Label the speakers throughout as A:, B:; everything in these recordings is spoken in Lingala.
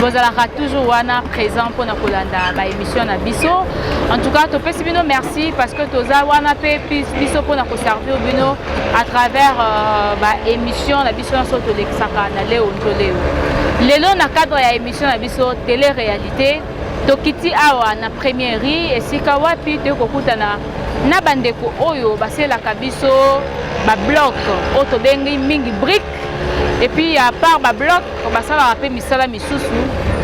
A: bozalaka toujours wana présent mpona kolanda ba émission na biso en tout cas topesi bino merci parce que toza wana mpe biso mpona koservir bino à travers euh, ba émission na biso nyonso tolekisaka na leo nto leo lelo na cadre ya émission na biso télé réalité tokiti awa na premierie esika wapi toyei kokutana na bandeko oyo baselaka biso bablok oyo tobengi mingi brique epuis ya part bablok po basalaka mpe misala misusu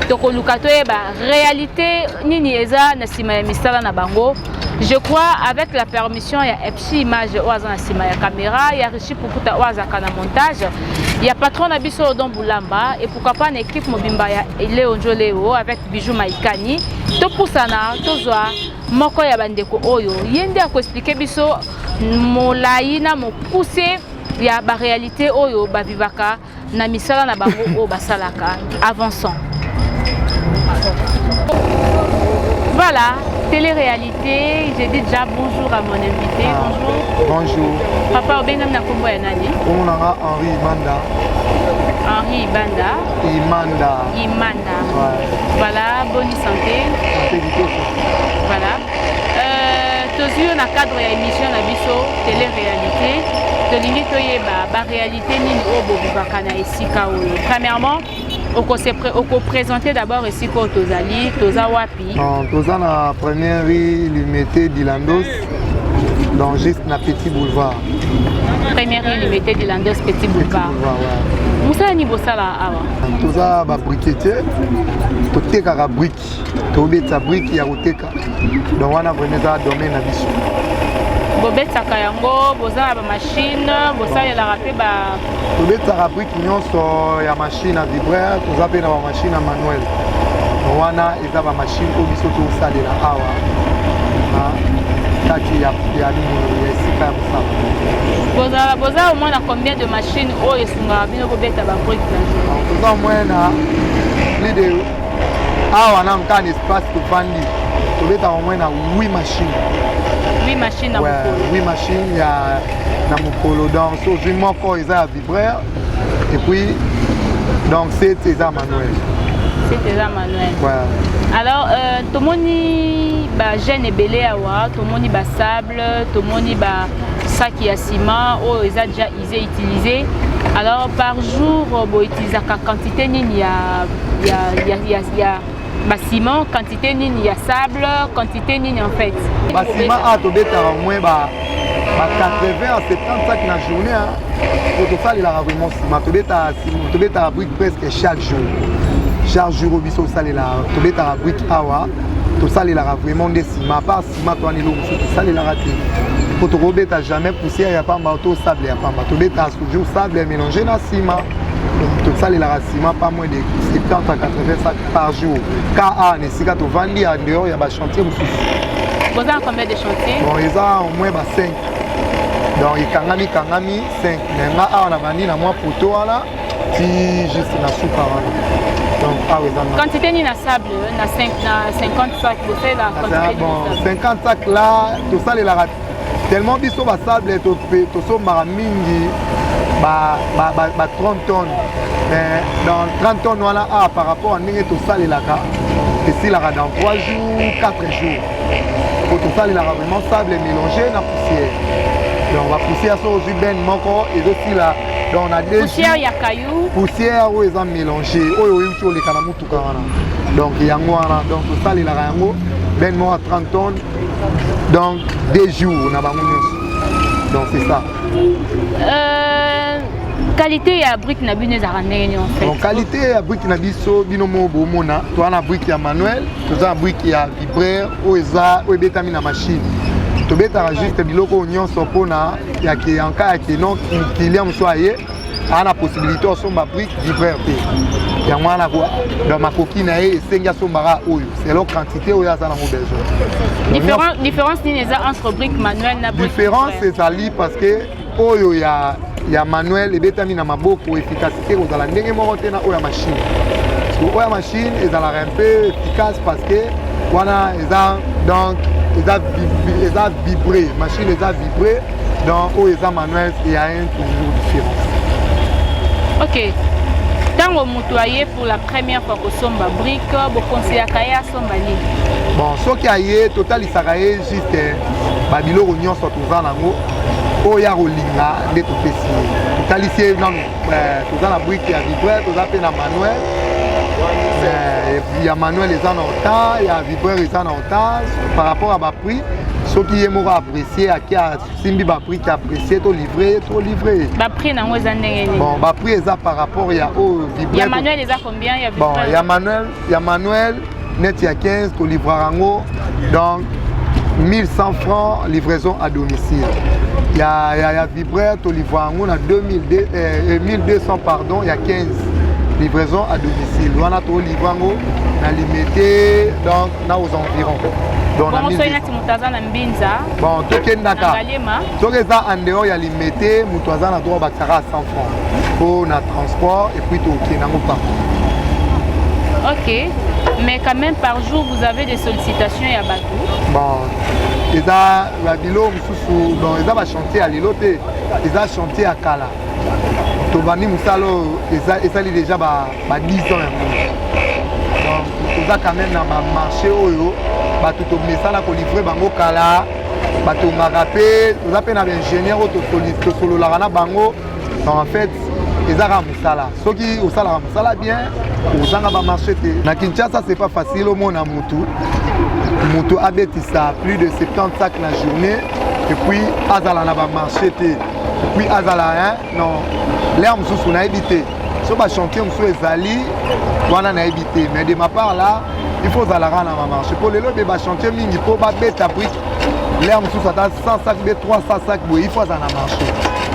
A: tokoluka toyeba réalité nini eza na nsima ya misala na bango je crois avec la permission ya epsi image oyo aza na nsima ya caméra ya richi pukuta oyo azalaka na montage ya patron na biso odon bulamba et pourquoi pas na équipe mobimba ya leo njo leo avec bijou maikani topusana tozwa moko ya bandeko oyo ye nde akoexplike biso molai na mokuse ya baréalité oyo bavivaka na misala na bango oyo basalaka avançant voilà télé-réalité j'ai dit déjà bonjour à mon invité ah, bonjour bonjour papa
B: obengami na
A: nkombo ya nani nkombo na nga henri
B: ibanda henri
A: ibanda imanda
B: imanda
A: ouais. voilà
B: bonne
A: santé santé kitoko
B: voilà
A: euh, tozwi yo na cadre ya émission na biso télé-réalité tolingi toyeba baréalité Réalité nini oyo bobivaka na esika oyo? Premièrement, okose okopresente d'abord esika oyo tozali, toza wapi? Non, toza na
B: première rue Limete Dilandos, donc juste na Petit Boulevard. Première
A: rue Limete Dilandos, Petit Petit Boulevard. Boulevard, ouais. Mosala
B: nini bosala
A: awa? Toza ba
B: briquetier, totekaka brique. tobetisa briki ya koteka donc wana vraimen eza domaine na biso
A: bobetaka yango boza na bamashine bosalelaka mpe ba tobetaka briki
B: nyonso ya mashine ya vibraire toza mpe na bamashine ya manuel wana eza bamashine oyo biso tosalela awa na kati ya ya esika ya mosala bozala boza omoi na
A: combien de mashine oyo esungaka bino kobeta babriki toza omoi na
B: plus de awa na nka na espace tovandi tobetaka yango na wi machine
A: wi machine ya
B: na mokolo donc so ozwi moko eza ya vibreur et puis donc sete eza manuel sete eza
A: manuel alors
B: euh,
A: tomoni bagene ebele awa tomoni basable tomoni basaki ya ciment oyo eza déjà J'ai utilisé alors par jour euh, bo utilisaka quantité nini ya ya ya ya, ya ba ciment quantité nini ya sable quantité nini en fait ba ciment a to
B: beta au moins ba ba 80 à 70 sacs na journée hein pour to faire la vraiment ciment to beta ciment to beta brique presque chaque jour chaque jour biso salela to beta brique awa to salela vraiment des ciment pas Mato wana eloko mosusu tosalelaka te mpo tokobeta jamais poussière ya pamba to sable ya pamba tobetaka toujours sable ya mélange na nsima tosalelaka nsima pas moins de 70 à 80 sac par jour ka na esika tovandi ya dehors ya bachantier mosusu boza
A: combien de chantier bon eza au moins
B: ba 5 donc ekangami kangami 5 mais nga awa na bandi na mwa poto wana ti juste na suka wana donc awa eza quantité nini
A: na sable euh, na 50 sac bosalelaka ah, bon 50 sac
B: la tosalelaka tellement biso basable tosombaka mingi ba, ba, ba, ba 30 tonnes mais dans 30 tonnes wana a ah, par rapport à ndenge tosalelaka esilaka dans 3 jours 4 jours po tosalelaka vraiment sable mélange na poussière donc bapoussière so ozwi bene moko ezosila donc na poussière ya caillou
A: poussière oyo eza
B: mélange oyo oyuti oleka na motuka wana donc yango wana donc tosalelaka yango ben moko 30 tonnes donc deux jours na bango nyonso donc c'est ça euh... qualité
A: ya brike na bino ezalaka ndenge nini bon qualité ya brike
B: na biso bino moko bomona toza na brike ya manuel toza na brike ya vibraire oyo eza oyo ebetami na machine tobetaka juste biloko oyo nyonso mpona ya ke yanka ya ke non client mosusu aye aa na possibilité osomba prix livreur te yango wana na makoki na ye esengi asombaka oyo selon quantité oyo aza nango besoin différence nini eza entre
A: brique manuel na différence ezali
B: parce que oyo ya ya manuel ebetami na maboko efficace eke kozala ndenge moko te na oyo ya machine parceke oyo ya machine ezalaka un peu efficace parce que wana eza donc eza eza vibre machine eza vibre donc oyo eza manuel eya un toujours différence
A: ok ntango moto aye pour la première fois kosomba brike bokonseyaka ye asomba nini bon soki
B: aye totalisaka ye juste babiloko nyonso toza nango oyo akolinga nde topesi ye totalisi ye nanu Eh, toza na brike ya vibreur toza mpe na manuel eh, ya manuel eza na retard ya vibreur eza na retard par rapport ya baprix soki ye moko apprécie aki asimbi baprix ki apprécie to livre ye to livre ye baprix
A: nango eza ndenge nini bon baprix eza par
B: rapport ya oyo oh, vibreur ya manuel eza
A: combien ya bon ya manuel
B: ya manuel neti ya 15 tolivraka yango donc 1100 francs livraison à domicile ya, ya, ya vibraire tolivra yango na 2002, eh, 1200 pardon ya 15 livraison à domicile wana tolivra yango na limete donc na aux environs bon tokendaka soki eza en dehors ya limete moto aza na droit bakisaka 100 pona transport et puis tokende nango partout ok
A: mais quand même par jour vous avez des sollicitations ya bato bon
B: eza babilo mosusu bon eza bachantier ya lelo te eza chantier ya kala tobandi mosala oyo esali déjà ba 10 ans yango donc toza quand même na bamarché oyo bato tomesana kolivre bango kala batongaka mpe toza mpe na baingénieur oyo tosololaka na bango en fait eza kaka mosala soki osalaka mosala bien ozanga bamarché te na kinshasa c'est pas facile omona motu motu abetisa plus de 70 sac na journée epuis azala na bamarché te epuis azala hein, non lere mosusu nayebi te so bachantier mosusu ezali wana nayebi te mais de ma part là il faut ozalaka na bamarché mpo lelo ebe bachantier mingi mpo babeta brike lere mosusu ata 100 sac be 300 sac boye il faut aza na marché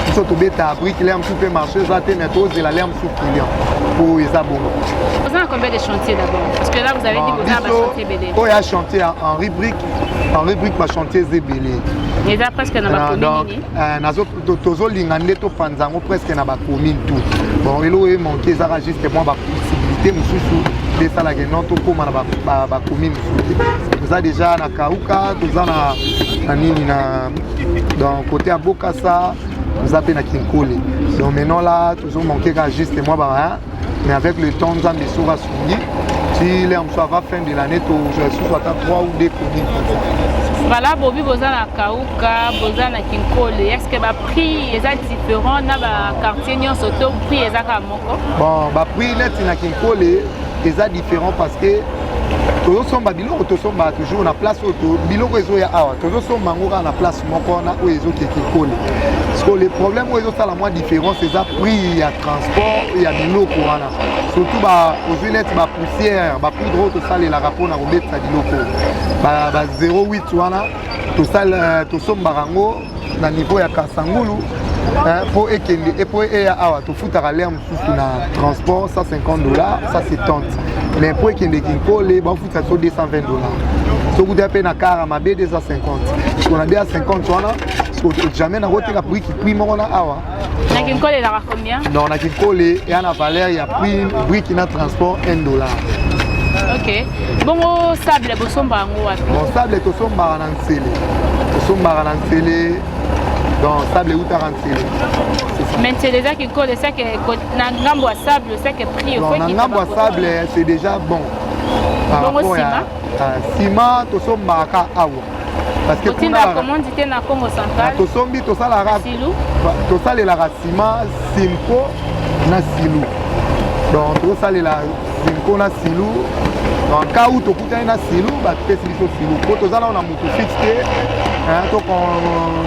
B: biso tobeta brike lere mosusu mpe marché eza te mais tozela lere mosusu client mpo eza bongo
A: oyo ya chantier ya
B: henri brike henri brike bachantier eza ebele eza presque
A: na bacommune nini
B: tozolinga nde topanza yango presque na bacommune tout bon eloko ye manke ezaka juste mwa bapossibilité mosusu esalaka non tokóma na bacommune mosusu te toza déjà na kauka toza na nini na dans côté ya bokasa toza mpe na kinkole donc maintenant la tozomanke kaka juste mwa ba mais avec le temps nzambe soki asungi ti lea mosusu ava fin de l'année tozwa lisusu ata 3 ou 2 commune bala bobi boza na kauka boza na kinkole est ce que baprix eza différent na
A: baquartier nyonso to prix eza kaka moko bon baprix
B: neti na kinkole eza différent parce que tozosomba biloko tosomba toujours na place oyo biloko ezoya awa tozosomba yango kaka na place moko wana oyo ezokekikole sikoyo le problème oyo ezosala mwa différence eza prix ya transport ya biloko wana surtout ozwi neti bapoussière bapoudre oyo tosalelaka mpona kobetisa biloko ba 08 wana euh, tosombaka yango na niveau ya kasangulu mpo ekende mpo eya awa tofutaka lere mosusu na transport 150 dollars 170 mais mpo ekende kinkole bafuta so 220 dollars sokuta mpe na kara mabe 250 sona 250 wana jamais nakoteka prix moko na awa Na kinkole elaka
A: combien? Non, na kinkole
B: ya na valeur ya prix brique na transport 1 dollar. Ok.
A: Bongo sable bosomba yango wapi? Bon sable tosombaka
B: na nsele. Tosombaka na nsele donc sable eutaka nsele. Mais
A: nsele eza kinkole seke na ngambo ya sable seke prix okoki. Na ngambo ya sable
B: c'est déjà bon. Par rapport
A: ya Ah, sima
B: tosombaka awa ah,
A: tosombi tosalaka
B: tosalelaka sima simpo na silu donc tosalela simpo na silu en cas où tokutani na silu bapesi biso silu mpo toza nao na motu fixe te to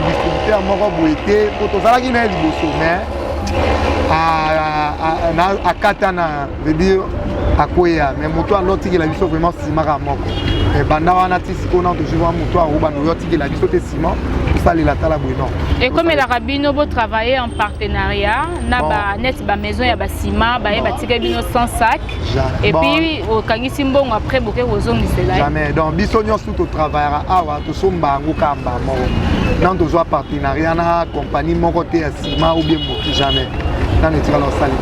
B: distributeur moko boye te mpo tozalaki na ye liboso mais akata na veut dire akweya mais moto yango otikela biso vraiment sima kaka moko banda wana ti sikoyo nano tozwi mwa moto yango banda oyo otikela biso te sima kosalela tala boye non ekomelaka
A: bino botravaille en partenariat na baneti bamaison ya basima baye batikeli bino sans sac epuis okangisi mbongo après boke kozongisela jamais donc biso nyonso
B: totravaillaka awa tosomba yango kamba moko nano tozwa partenariat na compagnie moko te ma ou bien moki jamais nani etikala osali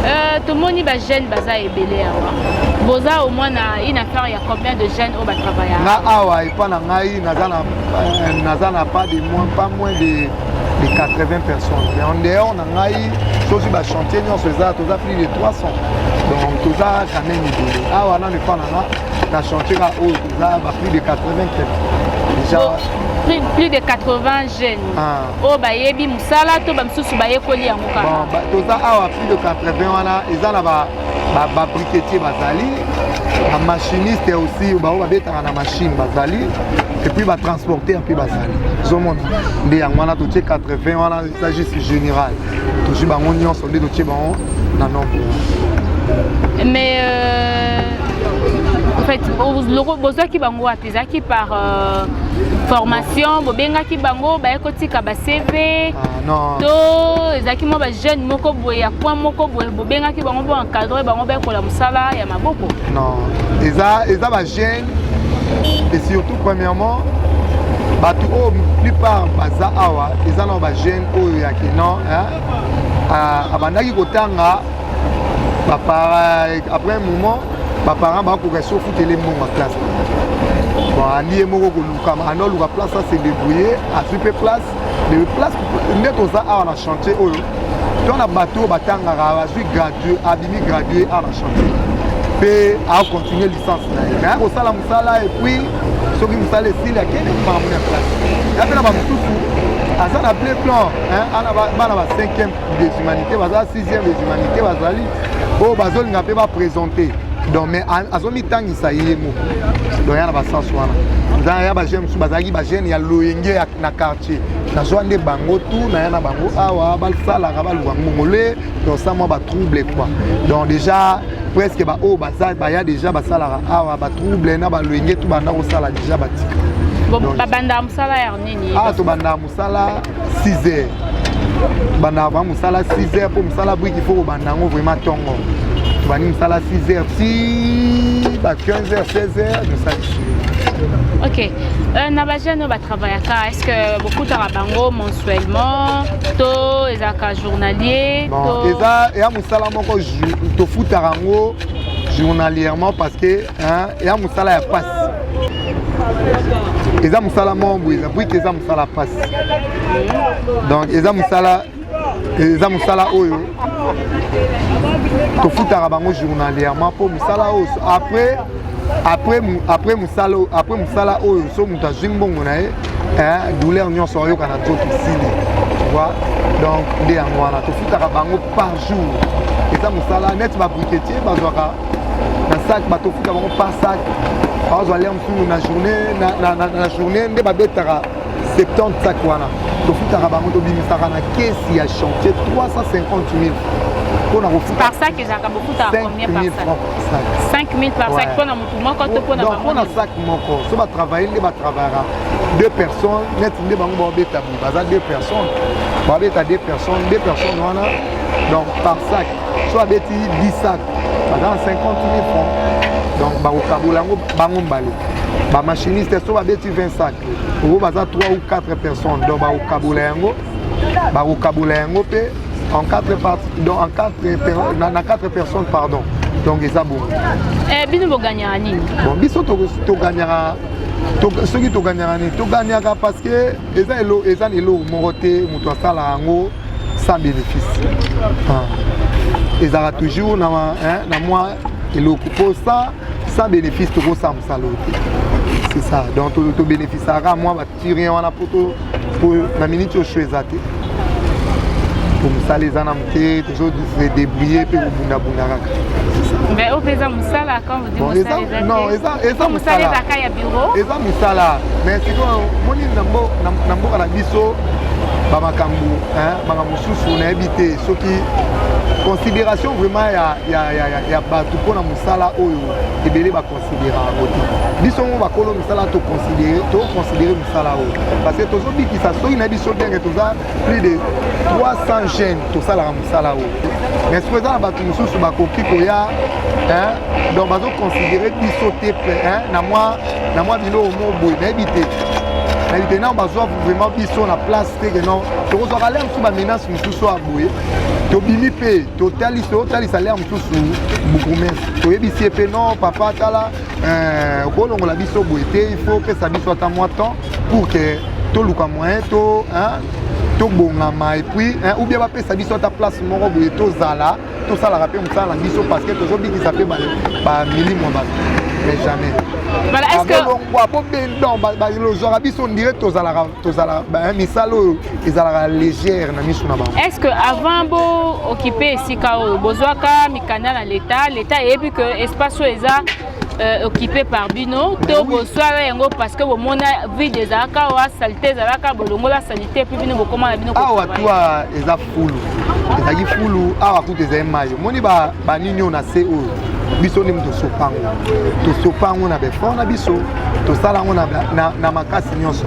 B: euh,
A: tomoni bajeune baza ebele awa boza au moins na une affaire ya combien de jeunes oyo batravaille nga awa
B: epa na ngai naza na euh,
A: naza
B: na pas de moins pas moins de de 80 personnes mais en dehors na ngai soki bachantier nyonso eza toza plus de 300 donc toza quand même ebele awa nano epa na nga na chantier ka oyo toza ba plus de 80 quelque déjà plus,
A: plus de 80 jeune ah. oyo bayebi mosala to bamisusu bayekoli yango kaka toza awa
B: plus de 80 wana eza na babriketier bazali bamachiniste aussi baoyo babetaka na machine bazali epuis batransporter mpe bazali ozomona nde yango wana totie 80 wana eza juste général tozwi bango nyonso nde totie bango na nombre mais euh, en
A: fait bozwaki bango wapi ezalaki par euh, formation bobengaki bango baye kotika ba cv ah, to
B: ezalaki
A: mwa bajeune moko boye ya coin moko boye bobengaki bango bo encadre bango bayekola mosala ya maboko non eza,
B: eza bajeune et surtout premièrement bato oyo plupart baza awa eza na bajeune oyo ya kenan abandaki kotanga après un moment baparent bakoka esi ofutele mbongo classe bon alie moko koluka anda oluka place ase débrouille azwi mpe place mais place nde toza awa na chantier oyo to na bato oyo batangaka azwi gradue abimi gradue awa na chantier mpe acontinue licence na ye aya kosala mosala epuis soki mosala esili akende makambo na place ya mpe na bamosusu aza na ble plan ana bana ba 5e des humanités baza sixième des humanités bazali oyo bazolinga mpe baprésente donc mais azomitangisa ye moko donc ya na basens wana nzaa ya bajeune mosusu bazalaki bajeune ya loyenge na quartier nazwa nde bango tu naya na bango awa basalaka baluka ngongole donc sa mwa batrouble quoi donc déjà presque baoyo oh, baya déjà basalaka awa batrouble na baloyenge tu banda kosala déjà batika babandaka
A: mosala ya nini ah tobandaka sala
B: 6 heures bandaka ba mosala 6 heures mpo mosala briki fo kobanda yango vraiment ntongo tobandi mosala 6 heures ti ba 15 heures 16 heures nosalisi ok
A: euh, na bajeune oyo batravaillaka est ce que bokutaka bango mensuellement to ezalaka journalier bon, eza
B: eya mosala
A: moko
B: tofutaka yango journalièrement parce que eza mosala ya pasi eza mosala moko boye eza bwike eza mosala pasi donc eza mosala eza mosala oyo tofutaka bango journalièrement mpo mosala oyo après après après mosala après mosala oyo so moto azwi mbongo na ye douleur nyonso ayoka na nzoto esili vois donc nde yango wana tofutaka bango par jour eza mosala neti babriketier bazwaka na sac bato ofuta bango par sac bazwa lere mosusu na journée na journée nde babetaka 70 sac wana tofutaka bango tobimisaka na kesi ya chantier 350 000 mpona kofuta par sac ezalaka bofutaka combien
A: par sac 5000 par sac mpo na motu moko to mpo na donc mpo na
B: sac moko so batravaille nde batravillaka deux personnes neti nde bango baobeta boye baza deux personnes babeta deux personnes deux personnes wana donc par sac so abeti 10 sac baza na 50 mille francs donc bakokabola yango bango mbale bamachiniste so babeti 20 sac oyo baza 3 ou 4 personnes donc bakokabola yango bakokabola yango mpe en 4 part, donc en 4 na, na 4 personnes pardon donc eza bongo eh, bino
A: boganyaka nini bon biso toganyaka
B: soki toganyaka nini toganyaka parce que eza eloko moko te moto asala yango sans bénéfice ah. ezalaka toujours na, hein, na mwa eloko mpo sans, sans bénéfice tokosala mosala oyo te c'est ça donc tobénéficiaka mwa batirien wana mpo mpo na miniti osho eza te mpo mosala eza na moke tozo se débrouiller mpe kobundabunda kaka mais oyo mpe
A: eza mosala quand vous dit mosala eza te non eza
B: mosala
A: eza mosala
B: mais sikoyo moni na mboka na biso bamakambo makambo mosusu nayebi te soki considération vraiment ya, ya, ya, ya, ya bato mpo na mosala oyo ebele baconsidéraka kote biso ngo bakolo mosala toconsidere toconsidere mosala oyo parce que tozobikisa soki na biso ndenge toza plus de 300 jeunes tosalaka mosala oyo mais soki eza na bato mosusu bakoki koya donc bazoconsidere biso te na mwa biloko mo boye nayebi te nayebi te nao bazwa vraiment biso na place te ke non tokozwaka lere mosusu bamenace mosusu ya boye tobimi mpe totalisa lere mosusu bukumesi toyebisi ye mpe non papa tala Euh, okolongola biso boye te il faut opesa biso ata mwa temps pour que toluka moyen to tobongama epuis ou bien bapesa biso ata place moko boye tozala tosalaka mpe mosala na biso parce que tozobikisa mpe bamilimo ya bato mais jamais
A: bolongwa po bendon
B: balozwaka biso ndire tozalaka tozala misala oyo ezalaka légère na miso na bango est ce que avant bo
A: occupe esika oyo bozwaka mikanda na leta leta eyebi que espace oyo eza euh, occupé par bino to boswala yango parce que bomona vide ezalaka awa salite ezalaka bolongola salite epuis bino bokoma na bino awa tua
B: eza fulu ezalaki fulu awa kutu ezali mai omoni banini oyo na se oyo biso nde tosopa yango tosopa yango na befort na biso tosala yango na makasi nyonso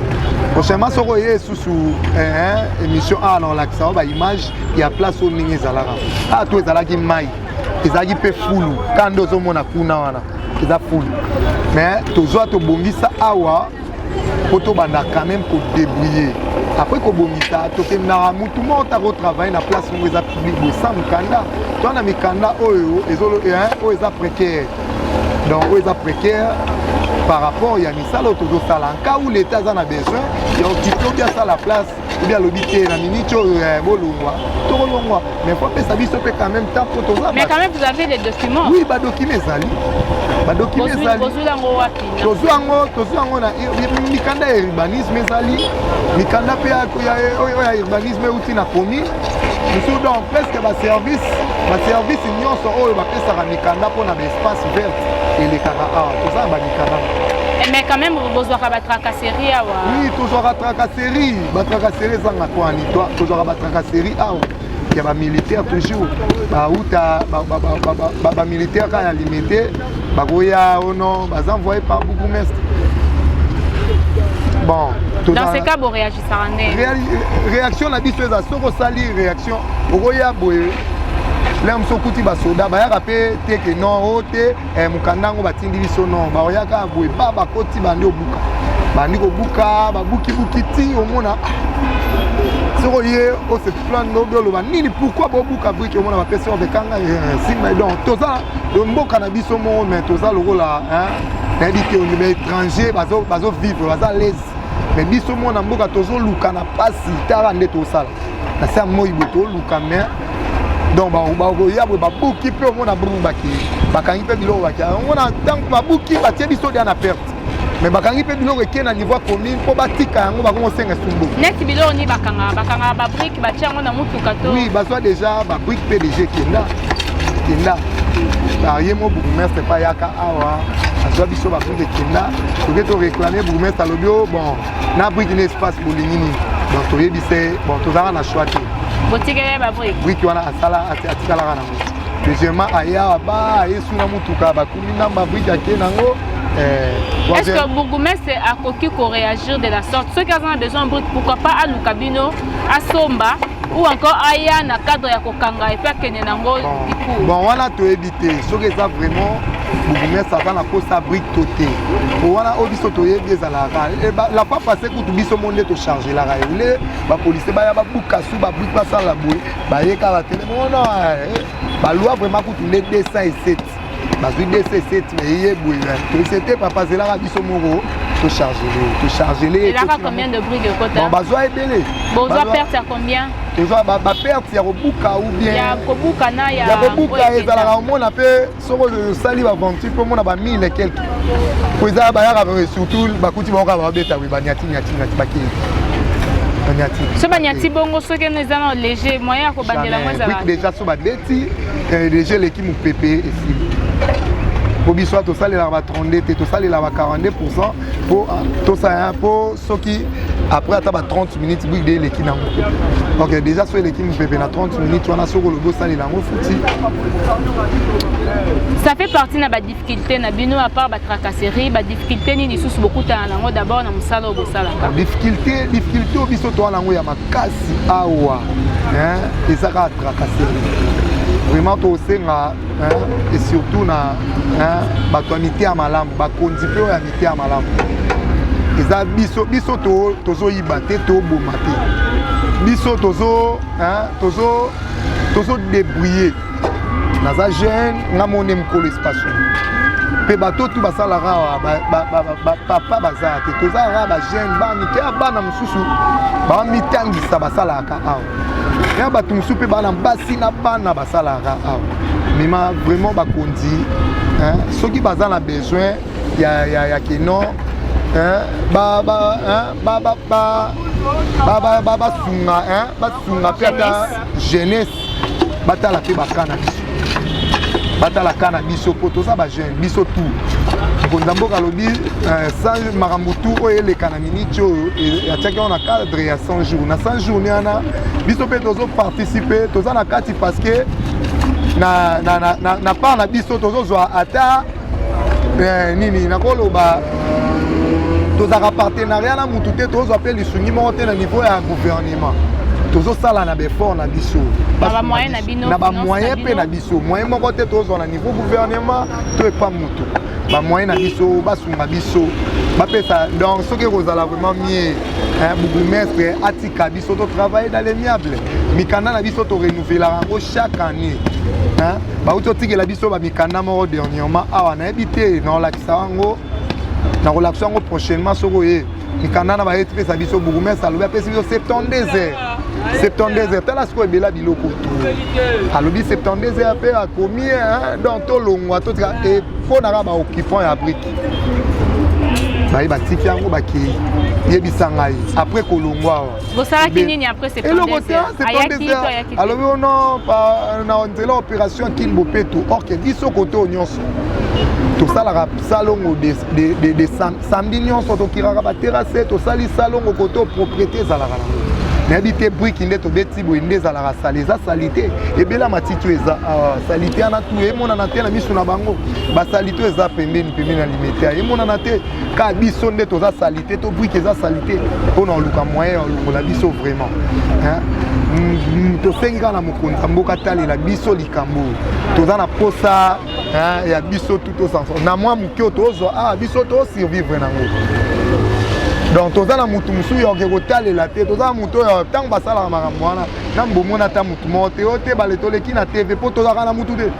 B: prochainement soko eye esusu eh, émission awa na olakisa o baimage ya place oyo ndenge ezalaka awa to ezalaki mai ezalaki mpe fulu kanda ozomona kuna wana eza fulu mais tozwa tobongisa awa mpo tobanda quand même kodebrouiller après kobongisa tokendaka mutu moko ta kotravaille na place moko eza public boye sans mokanda to na mikanda oyo oyo eza précaire donc oyo eza précaire par rapport ya misala oyo tozosala nka ou leta aza na besoin ya okipe obi asala place obi alobi te na miniti oyo eh, bolongwa tokolongwa mais po apesa biso mpe quand même temps mpo toza
A: oui badocument ezali
B: badocument ezali tozwi yango tozwi yango na mikanda ya urbanisme ezali mikanda mpe oyo ya urbanisme euti na commune mosusu donc presque baservice baservice nyonso oyo bapesaka mikanda mpo na baespace verte elekaka awa toza na bamikanda eh, mais quand même
A: bozwaka batracasserie awa oui tozwaka
B: tracasserie batracasserie ezanga kwani tozwaka batracasserie awa ya ba militaire toujours bauta ba militaire kaka ya limite bakoya ono baza envoye par bourgmestre bon dans ce cas bo
A: réagissaka nde réaction na
B: biso eza soki osali réaction okoya boye lere mosu okuti basoda bayaka mpe teke non o te eh, mokanda yango batindi biso no baoyaka boye ba bakoti bandi obuka bandi kobuka babukibuki ti omona ah, soko ye ose plane nobi oloba nini pourkui bobuka brike omona bapesi obe kanga eh, simba donc toza mboka na biso moko mai toza lokola nayebi te ondima étranger bazovivre baza lese mai biso moko na mboka tozoluka na mpasi tala nde tosala na se ya moi bo toluka mai donc bakoya boye babuki mpe omona brungu bakei bakangi mpe biloko bakei omona ntango babuki batie biso dia na perte me bakangi mpe biloko ekei na niveau ya commune mpo batika yango bakomi kosenga esumbu neti biloko nini bakangaka
A: bakangaka babrike batia yango na motuka to oui bazwa déjà
B: babrike mpe déjà ekenda ekenda aye mo bourgmestre epai yaka awa azwa biso babrike ekenda toke toreklame bourgmestre alobi o oh, bon na briki na espace bolingi nini donc toyebi se bon tozalaka na choix te botikele babriki
A: briki wana asala
B: atikalaka nango deuxièmement aye awa ba aye su na motuka bakumi na babriki ake nango eh, est
A: ce que bourgoumestre akoki koréagir de la sorte soki aza na besoin briki pourquoi pas aluka bino asomba ou encore aya na cadre ya kokanga epe akende nango likou bon wana toyebi te
B: soki eza vraiment bourgmestre aza na posa brike to te po wana oyo biso toyebi ezalaka eh, la pa passe kutu biso mo nde tochargelaka ye le bapolisie baya babuka su babrike basala boye baye kaka tele mona eh, balwa vraiment kutu nde 207 bazwi 207 me ye boye tosete papa azelaka biso moko tochargele tochargele
A: bazwa ebele
B: bozwa perte ya
A: combien eza baperte
B: ya kobuka ou bien ya kobuka na ya
A: ya kobuka ezalaka
B: omona mpe soko osali baventure mpe omona ba mille quelque mpo eza bayaka surtout bakuti bango kaka babeta wi banyati nyati nyati bakei
A: banyati so banyati bongo soki eno eza na léger moyen ya kobandela yango ezalaka déjà so babeti
B: eh, léger eleki mopepe esili mpo biso tosalelaka ba 32 te tosalelaka ba 42 pourcent po ah, tosala po soki après ata ba 30 minutes big de eleki nango ok déjà so eleki mopepe na 30 minutes wana soki olobi osalela yango futi
A: ça fait partie na badifficulté na bino à part batracasserie badifficulté nini lisusu bokutana nango d'abord na mosala oyo bosalaka difficulté difficulté
B: oyo biso toa nango ya makasi awa eza kaka tracasserie vraiment tosenga et surtout na bato ya mite ya malamu bakonzi mpe oyo ya mite ya malamu eza biso biso tozoyiba te toboma te biso tozo tozo tozo débrouiller naza jeune nga mone mokolo espace mpe bato tu basalaka awa papa baza te toza kaka bajeune bamike ya bana mosusu bamitangisa basalaka awa ya bato mosusu mpe bana basi na bana basalaka awa mema vraiment bakonzi soki baza na besoin ya, ya, ya kino basunga mpe ata jeunesse batala mpe bakana biso batala ka na biso mpo toza bajeune biso tout mokonzi ya mboka alobi euh, sans makambo tu oyo eleka na miniti oyo atiaki yango na cadre ya 100 jours na 100 jours ni wana biso mpe tozoparticipe toza na kati parce que na, na, na, na, na part na biso tozozwa ata eh, nini nakoloba tozalaka partenariat na mutu te tozwa mpe lisungi moko te na niveau ya gouvernement tozosala na befort na biso na bamoyen mpe na biso moyen moko te tozwa na niveau gouvernement to epa motu bamoyen na biso basunga biso bapesa donc soki ekozala vraiment mie bourgmestre atika biso biso to travaille dans l'amiable mikanda na biso to renouvelaka yango chaque année bauti otikela biso bamikanda moko dernièrement awa nayebi te nakolakisa yango nakolakisa yango prochainement soki oye mikanda na baye tipesa biso bourgmestre alobi apesi biso 72 heures 72 heures tala sikoyo ebela biloko to alobi 72 heures mpe akomi donc tolongwa totika mpo na kaka baoccupant ya brike baye batiki yango bakei yebisa ngai après kolongwa awa bosalaki
A: nini après eloko te alobi ono
B: na nzela opération kin bopeto orke biso kote oyo nyonso tosalaka salongo de, de, de, de sam, samedi nyonso tokiraka baterase tosali salongo kote propriété ezalaka nango nayebi te briki nde tobeti boye nde ezalaka sale eza salite ebela matiti oyo eza ah, salite wana tu emonana te na miso na bango basali to eza pembeni pembeni ya limete ya emonana te ka biso nde toza salite to brike eza salite mpo na oluka moyen ya olongola biso vraiment mm, tosengi kaka na mokonzi ya mboka talela biso likambo toza na posa ya biso tuto sanson na mwa moke tozwa awa ah, biso tosurvivre nango donc toza na motu mosusu ya oke kotalela te toza na motu oyo ntango basalaka makambo wana na mbomona ata motu moko te oyo te bale toleki na tv mpo tozalaka na motu te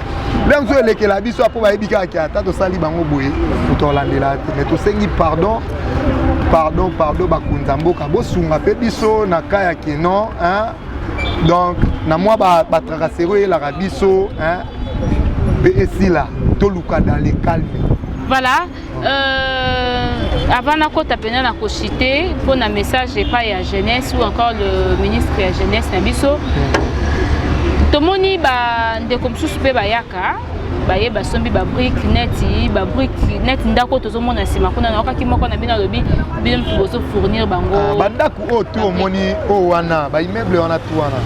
B: lelo mosusu elekela biso apo bayebi kaka ke ata tosali bango boye moto alandela te mais tosengi pardon pardon pardon bakonzi ya mboka bosunga mpe biso na ka ya kenon donc na mwa batrakaseri ba oyelaka biso mpe esila toluka dans le calme voilà
A: Euh, avant nakota mpenza na kochite mpo na message epai ya jeunesse ou encore le ministre ya jeunesse na biso tomoni bandeko mosusu mpe bayaka baye basombi babrike neti babrike neti ndako tozomona nsima kuna naokaki moko na bino alobi bino motu bozofournir bango ah, oyo tu
B: omoni oyo wana baimmeuble wana tu wana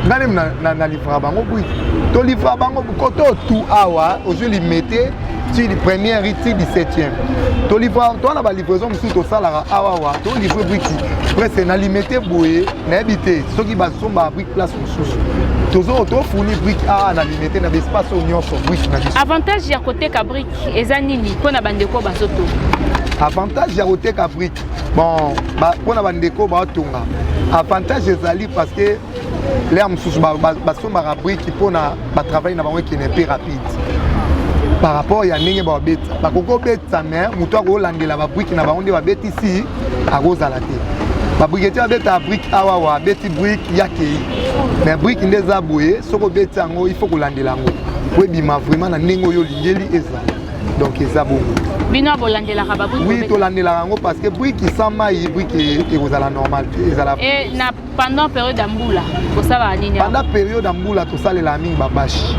B: ngai nde nalivraka bango bui tolivraka bango kote oyo tu awa ozwi limete ti première ti 17e tolivraka towana balivraison mosusu tosalaka awawa tolivre briki presque na limete boye nayebi te soki basombaka briki place mosusu tozo tofuni briki awa na limete na baespace oyo nyonso briki na biso avantage ya koteka
A: briki eza nini mpo na bandeko bazotonga avantage
B: ya koteka brike bon mpo na bandeko baotonga avantage ezali parce que lea mosusu basombaka brike mpo na batravaille na bango ekende mpe rapide par rapport ya ndenge babeta bakoki kobetisa me moto akolandela babrike na bango nde babetisi akozala te babriketi babetaka brike awawa abeti brike yakei me brike nde eza boye soki obeti yango il faut kolandela yango po ebima vraiment na ndenge oyo Ngeli eza donc eza bongo bino bolandelaka
A: babuki oui tolandelaka yango parce
B: que briki sans mai briki ekozala normal te ezala e na pendant
A: période ya mbula kosalaka nini pendant période ya mbula
B: tosalelaka mingi babashe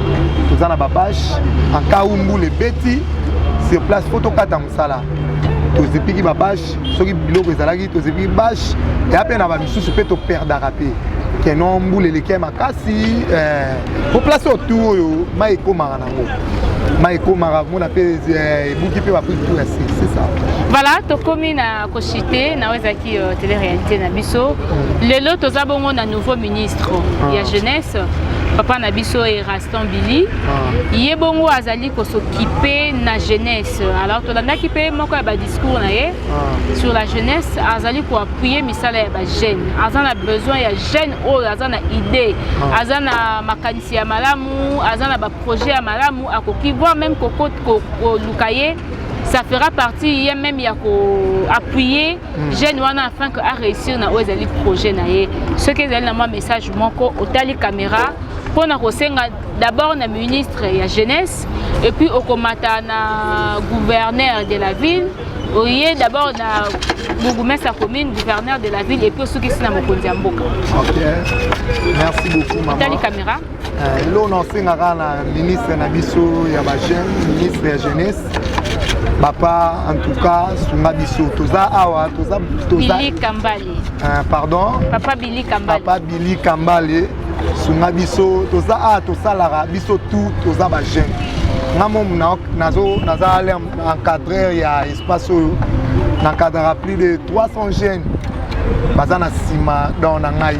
B: toza na babashe en cas où mbula ebeti sur place fo tokata mosala tozipiki babashe soki biloko ezalaki tozipiki bashe eya mpe na bamisusu mpe toperdaka mpe keno mbula eleki makasi po eh, place oyo tu oyo mai ekomaka na mai ekomaka komona mpe eh, ebuki mpe baprix tout ya se c'est ça voilà tokomi
A: na koshite na oyo ezalaki euh, tele réalité na biso lelo toza bongo na nouveau ministre ah. ya jeunesse papa na biso eraston billy ah. ye bongo azali kosokipe na jeunesse alors tolandaki mpe moko ya badiscours na ye ah. sur la jeunesse azali koappuye misala ya bajeune aza na besoin ya jeune oyo aza na idée ah. aza na makanisi si ya malamu aza na baprojet ya malamu akoki voir même koluka ye ça fera partie ye même ya koappuye hmm. jeune wana afin que aréussir na oyo ezali projet na ye soki ezali na mwa message moko otali caméra mpo na kosenga d'abord na ministre ya jeunesse epuis okomata na gouverneur de la ville oye d'abord na bourgmestre ya commune gouverneur de la ville epuis osukisi na mokonzi ya mboka merci
B: beaucoup mama tali caméra
A: eh, lelo na
B: osengaka na ministre na biso ya bajeune ministre ya jeunesse papa en tout cas sunga biso toza awa toza toza Billy Kambale
A: eh, pardon
B: papa Billy Kambale
A: papa Billy Kambale
B: sunga biso toza awa tosalaka biso tout toza bajeune nga momu naza na encadreur ya espace oyo na encadrera plus de 300 jeunes baza na nsima don na ngai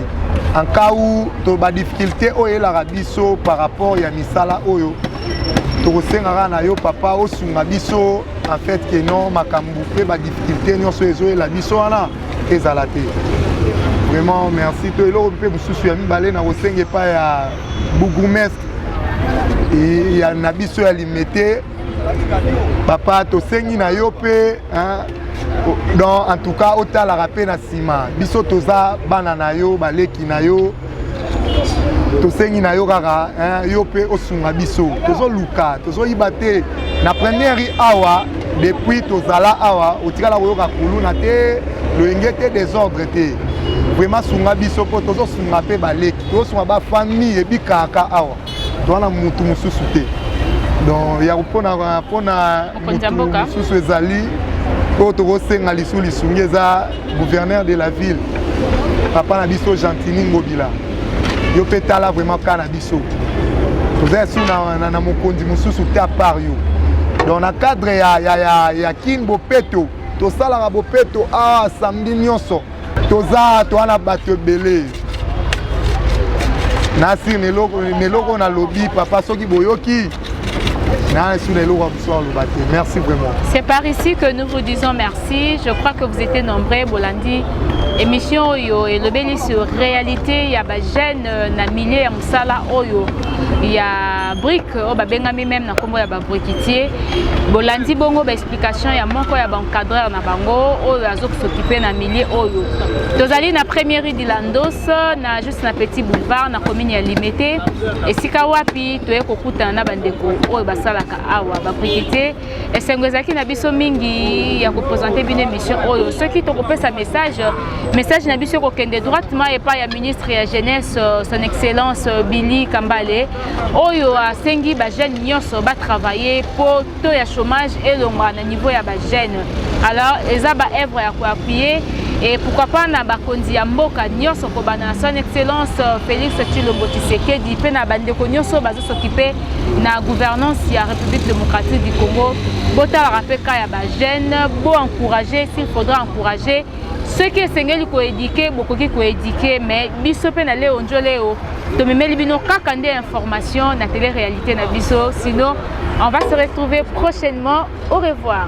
B: en cas où to ba difficulté oyo elaka biso par rapport ya misala oyo tokosengaka na yo papa osunga biso en fait que non makambo mpe ba difficulté nyonso ezoyela biso wana ezala te vraiment merci to eloko mpe mosusu ya mibale na kosenga epai ya bourgoumestre ya na biso ya limete papa tosengi na yo mpe donc en tout cas otalaka mpe na nsima biso toza bana na yo baleki na yo tosengi na yo kaka yo mpe osunga biso tozoluka tozoyiba te na première awa depuis tozala awa otikala koyoka kuluna te loyenge te desordre te vraiment sunga biso mpo tozosunga mpe baleki tozosunga bafamille ebikaka awa toza na mutu mosusu te donc ya mpona mpona mutu mosusu ezali oyo tokosenga lisu lisungi eza gouverneur de la ville papa na biso gentini ngobila yo mpe tala vraiment ka na biso toza esu na, na, na mokonzi mosusu te apart yo donc na cadre ya, ya, ya, ya kin bopeto tosalaka bopeto awa ah, samedi nyonso toza toa na bato ebele nasi na eloko nalobi papa soki boyoki Merci vraiment. C'est par ici que
A: nous vous disons merci. Je crois que vous étiez nombreux, Bolandi. Émission Oyo et le béni sur réalité, il y a des jeunes euh, na milieu ya musala Oyo. Il y a brique, oh, bah, bengami même na kombo ya ba briquetier. Bolandi bongo, bah, explication ya moko ya baencadreur na bango oyo azo kosokipe na milieu oyo tozali na premier rue de landos na juste na petit boulevard na commune ya limete esika wapi toye kokutana na bandeko oyo basalaka awa babrikete esengo ezalaki na biso mingi ya kopresente bino émission oyo soki tokopesa message message na biso ekokende droitement epai ya ministre ya jeunesse son excellence billy kambale oyo asengi bajeune nyonso batravaille mpo taux ya chômage elongwa na niveau ya ba jeunes alors eza ba œuvre ya koappuye et pourquoi pas na bakonzi ya mboka nyonso kobanda na son excellence euh, félix tshilombo tshisekedi mpe na bandeko nyonso bazosokipe na gouvernance ya république démocratique du congo botalaka mpe ka ya bajeune boencourage s'il faudra encourage soki esengeli koedike bokoki koedike mais biso mpe na leo njo leo tomemeli bino kaka nde information na tele réalité na biso sinon on va se retrouver prochainement au revoir